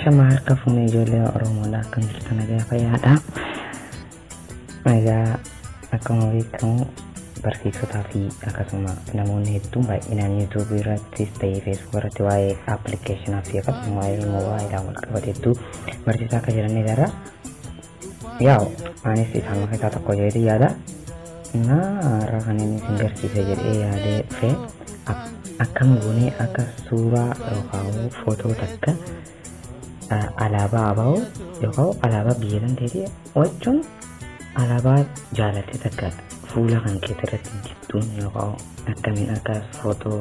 Shama harka fuunee ijoollee Oromoodha akkam jirtu nagaa fayyaadha. Egaa akkuma beekamu barsiisotaa fi akkasuma namoonni hedduun baay'inaan yuutuubii irrattis ta'ee feesbuuk irratti waa'ee appilikeeshinaa fi akkasuma waa'ee moobaayilaa wal qabate hedduu barsiisaa akka jiran ni agarra. Yaa'u anis isaan keessaa tokko jedhee yaada. Innaa har'a kan inni isin garsiise jedhee yaadee dhufe akkam goonee akka suuraa yookaan footoo takka alaabaa abaa'u yookaan alaabaa biyya danteetii wachuun alaabaa jaalatte takka fuula kan keetirratti dibduun yookaan akkamiin akka footoo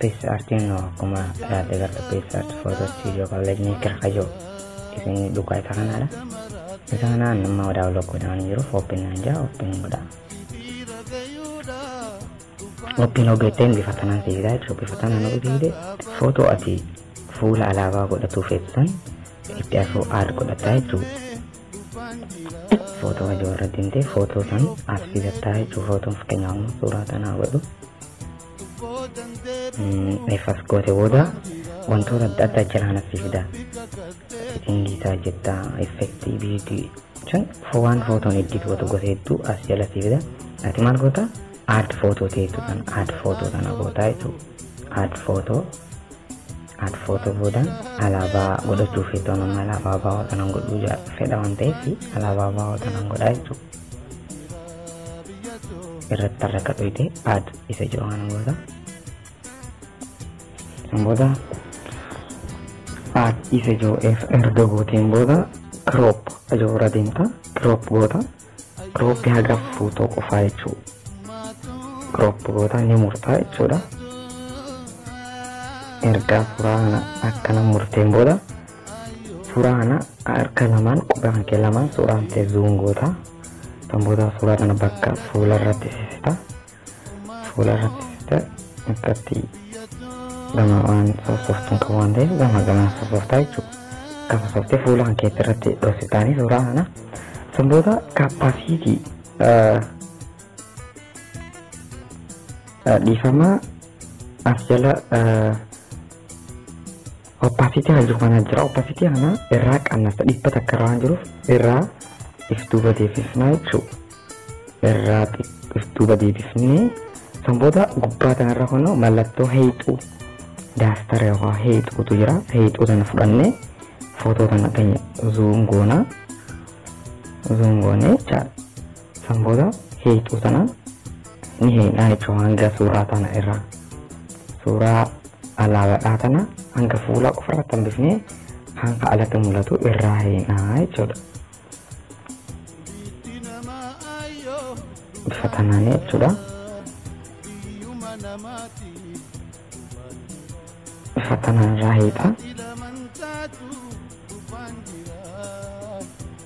Pesa artiin oo akkuma yaadde garta pesa arti footoo istiidiyoo kallajnii kirkajoo isin dhugaa isa kanaadha. Isa kanaan nama wadaa olokkoodhaan jiru fooppiin naan jaa ooppiin godha. Ooppiin ogeetteen bifa tanaan si fidaa jechuudha bifa tanaan ofi fiide footoo ati fuula alaabaa godhatuu feetu san itti asoo aad godhataa jechuudha. Footoo hajoo irratti himtee footoo san as fidattaa jechuudha footoon fakkeenyaaf suuraa tanaa godhu. Eefas goote booda wantoota adda addaa jalaa natti fida. Seetingii isaa jetta effektii biidii jechuun waan footoon eddiit gootu gosa hedduu as jalatti fida. Ati maal goota? Aad footoo ta'etu kan aad footoo kana gootaa jechuudha. Aad footoo aad footoo booda alaabaa godhachuu feetoon amma alaabaa baawoo tanan godhuu fedha waan ta'eef alaabaa baawoo tanan godhaa jechuudha. irratti tarra akka dhoyte aad isa jiru kana booda san booda aad isa jiru erga gooteen booda kiroop ajoo irra deemta kiroop goota kiroopi haga fuutoo qofaa jechuu kiroop goota ni murtaa jechuudha ergaa suuraa kana akkana murteen booda Suuraa kana harka lamaan quba kan kee lamaan suuraa kan kee zuum goota. Kan booda suuraa kana bakka fuula irratti sisita. Fuula irratti sisita akkatti gama waan sooftuun qabu waan ta'eef gama gamaa sooftaa jechuudha. Kan sooftee fuula kan keetti irratti dhoksitaanii suuraa kana. Kan booda kaappaasiitii dhiifama as jala Opacity kan jiru kana jira. Opacity kana irraa qannasa dhibba takka irra waan jiruuf irraa if duuba deebifnaa jechuudha. Irraa if duuba deebifnee san booda gubbaa kanarra kunoo mallattoo heexuu daastara yookaan heexuutu jira. Heexuu sana fudhannee footoo kana keenya zuum goonaa. Zuum goonee jechaadha. San booda hiituu tana ni hiinaa jechuun hanga suuraa tana irraa suuraa alaabaadhaa tana hanga fuulaa qofa irratti hambifnee hanga alatti mul'atu irraa hiinaa jechuudha. Bifa tanaan jechuudha. Bifa tanaan irraa hiitaa.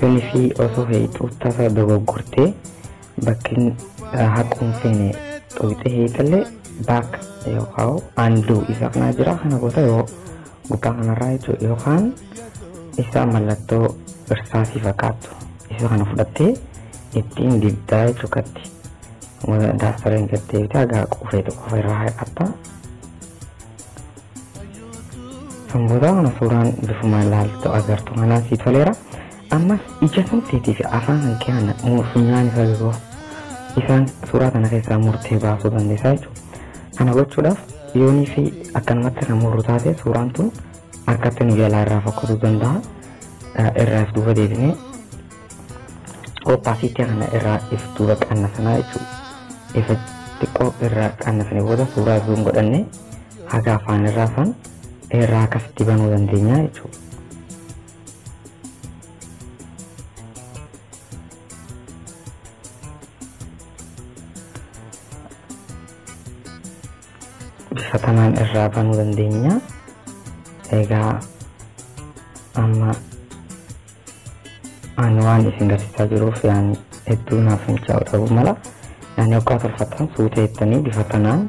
Yunifi osoo heexuu tasa dogoggortee bakkin haquun feene xoyxee heexallee baak yookaan anduu isa kanaa jira kana goota yoo gubbaa kanarraa jechuudha yookaan isa mallattoo irsaasii fakkaattu isa kana fudhattee ittiin dibdaa jechuu katti daastareen gattee bitaa gaa qufee tokko irraa haqatta Sangoota kana suuraan bifuma ilaaltu agartu kanaan sii toleera. Ammas ija namteetii fi afaan kan keenya funyaan isaa yeroo isaan suuraa kana keessaa murtee baasuu dandeessaa jechuudha. Kana gochuudhaaf yoonii fi akkanumatti kan murru taate suuraan tun harkatti nu jalaa irraa fokkasuu danda'a. Irraa if duuba deebinee oppaasiitii kana irraa if duuba qannasanaa jechuudha. Ifa xiqqoo irraa qannasanii booda suuraa zuum godhannee haga afaan irra afaan irraa akkasitti banuu dandeenya jechuudha. bifa kanaan irraa banuu dandeenya. Egaa amma ani waan isin garsiisaa jiruuf yaani hedduu naaf hin caawu ta'uu mala. Yaani hoggaa tolfattan suuta jettanii bifa kanaan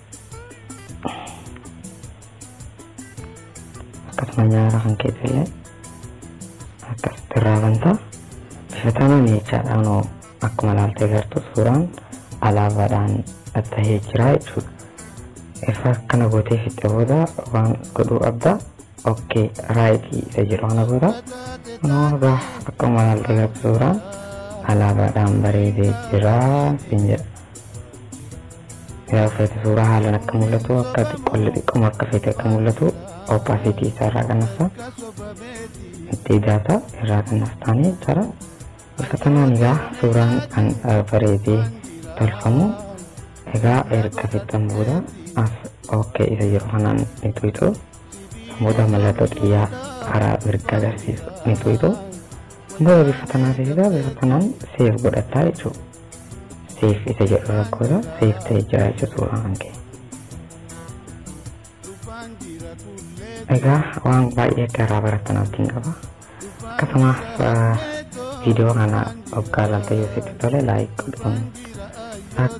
akkasuma nyaara kan keessa illee akkasitti irraa banta bifa tanaan jechaadhaan oo akkuma ilaaltee gartu suuraan alaabaadhaan tahee jira jechuudha. Ifa akkana gootee fixxe booda waan godhuu qabda okkee raayitii isa jedhu kana booda kunoo egaa akkuma ilaaltee gartu suuraan alaabaadhaan bareedee jira siin jedha. Yaa feete suuraa haalan akka mul'atu akka xiqqolle xiqqoma akka feete akka mul'atu opacity isaa irraa kannafta. Itti idaata irraa kannaftaanii jara. Bifa tanaan egaa suuraan kan bareedee tolfamu egaa erga fixxan booda as ok isa yeroo kanaan ni tuyxu. Booda mallattoo xiyyaa karaa mirga agarsiisu ni tuyxu. Booda bifa tanaan seesisa bifa tanaan seef godhattaa jechuudha. Seef isa jedhu rakkoodha. Seef ta'e jira jechuudha uumamaan kee. Egaa waan baay'ee akka irraa barattan abdiin qaba. Akkasumas viidiyoo kana hoggaa laaltee yoo sitti tole laayik godhuun akka